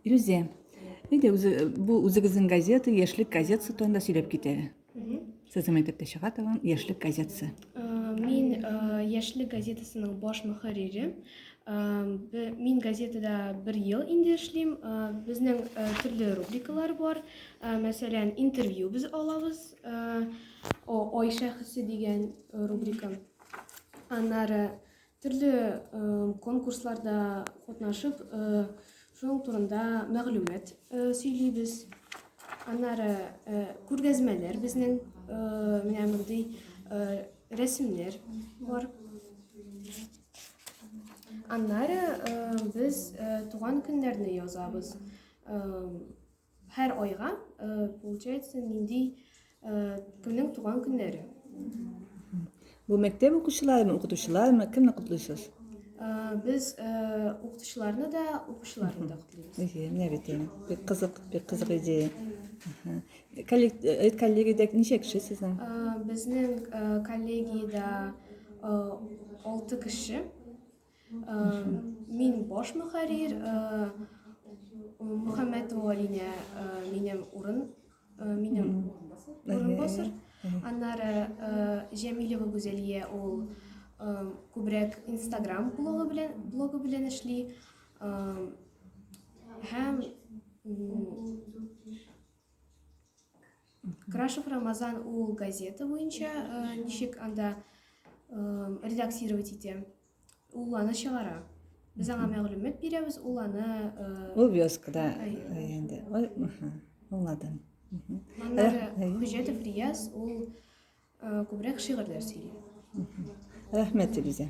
Илүзә, әйдә үзе бу үзегезнең газета, яшьлек газетасы турында сөйләп кит әле. Сезнең мәктәптә чыга торган яшьлек газетасы. Э, мин э, яшьлек газетасының баш мөхәррире. Э, мин газетада бер ел инде эшлим. Безнең төрле рубрикалар бар. Мәсәлән, интервью без алабыз. Ой шәхесе дигән рубрика. Аннары Төрле конкурсларда катнашып, шуның турында мәгълүмат сөйлибез. Аннары күргәзмәләр безнең менә мондый рәсемнәр бар. Аннары без туган көннәрне язабыз. Һәр айга, получается, нинди кемнең туган көннәре? Бу мәктәп укучыларымы, укытучыларымы, кемне котлыйсыз? Без укытучыларны да, укучыларны да котлыйбыз. Әйе, менә бит инде. Бик кызык, бик кызык идея. Коллег, коллегиядә ничә кеше сезнең? Безнең коллегиядә 6 кеше. Мин баш мөхәррир Мөхәммәт Валине минем урын минем урынбасар. Аннары Җәмилева Гүзәлия ул күбрәк Instagram блогы белән блогы белән эшли. Һәм Крашев Рамазан ул газета буенча э, ничек анда э, редактировать итә? Ул аны чыгара. Без аңа мәгълүмат бирәбез, ул аны э, Ул вёскада инде. Аңладым. Аннары Хуҗатов Рияз ул күбрәк шигырьләр сөйли. Рәхмәт, Илизә.